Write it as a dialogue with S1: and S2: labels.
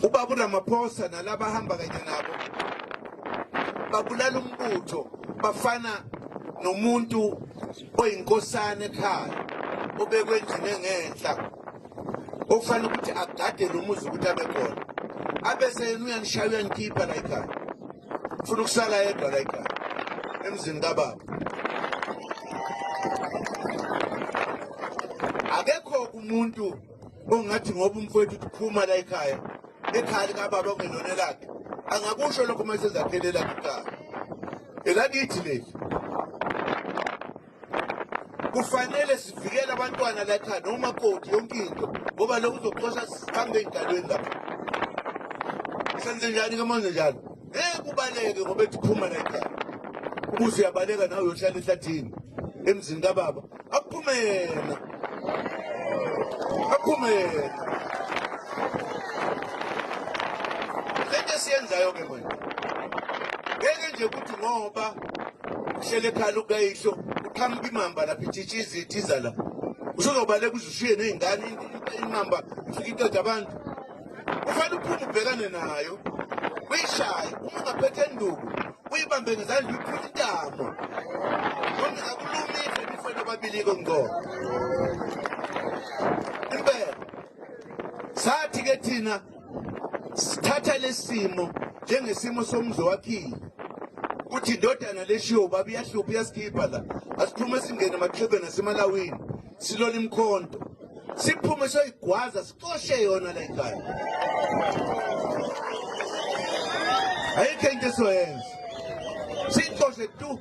S1: Ubaba uRamaphosa nalaba hamba kanye nabo babulala umbutho bafana nomuntu oyinkosana ekhaya obekwe endlini engenhla okufanele ukuthi agade lo muzi ukuthi abe khona abese yena uyanishaya uyanikhipha la ekhaya ufuna ukusala yedwa la ekhaya emzini kababa akekho umuntu ongathi ngoba umfowethu uphuma la ekhaya ekhaya likababa ongelona elakhe angakusho lokho uma esezakhele elakhe ikhaya elakithi leli kufanele sivikele abantwana la ekhaya noma koti yonke into ngoba lokhu uzoxosha sihambe ey'dalweni lapho senze njani ke manje njalo ngeke kubaleke ngoba ethi phuma la ekhaya ubuze uyabaleka nawe uyohlala ehlathini emzini kababa akuphume yena akuphume yena lento esiyenzayo ke manje ngeke nje ukuthi ngoba uhlele ekhala ukayihlo uqhamuka imamba lapha ithitsha izithiza la usuzobaleka uze ushiye ney'ngane imamba ifike iqeda abantu ufanele uphume ubhekane nayo uyishaye uma ungaphethe enduku uyibambe ngezandla uyiphula intamo noma akulumile nifana ababili-ke ngqobo impela sathi-ke thina sithatha lesimo njengesimo somzi wakhile ukuthi indodana leshiwo baba iyahlupha iyasikhipha la asiphume singene emaxhebeni asemalawini silole imkhonto siphume soyigwaza Coshe yona le ngane. Ayikho into esoyenza. Sicoshe tu.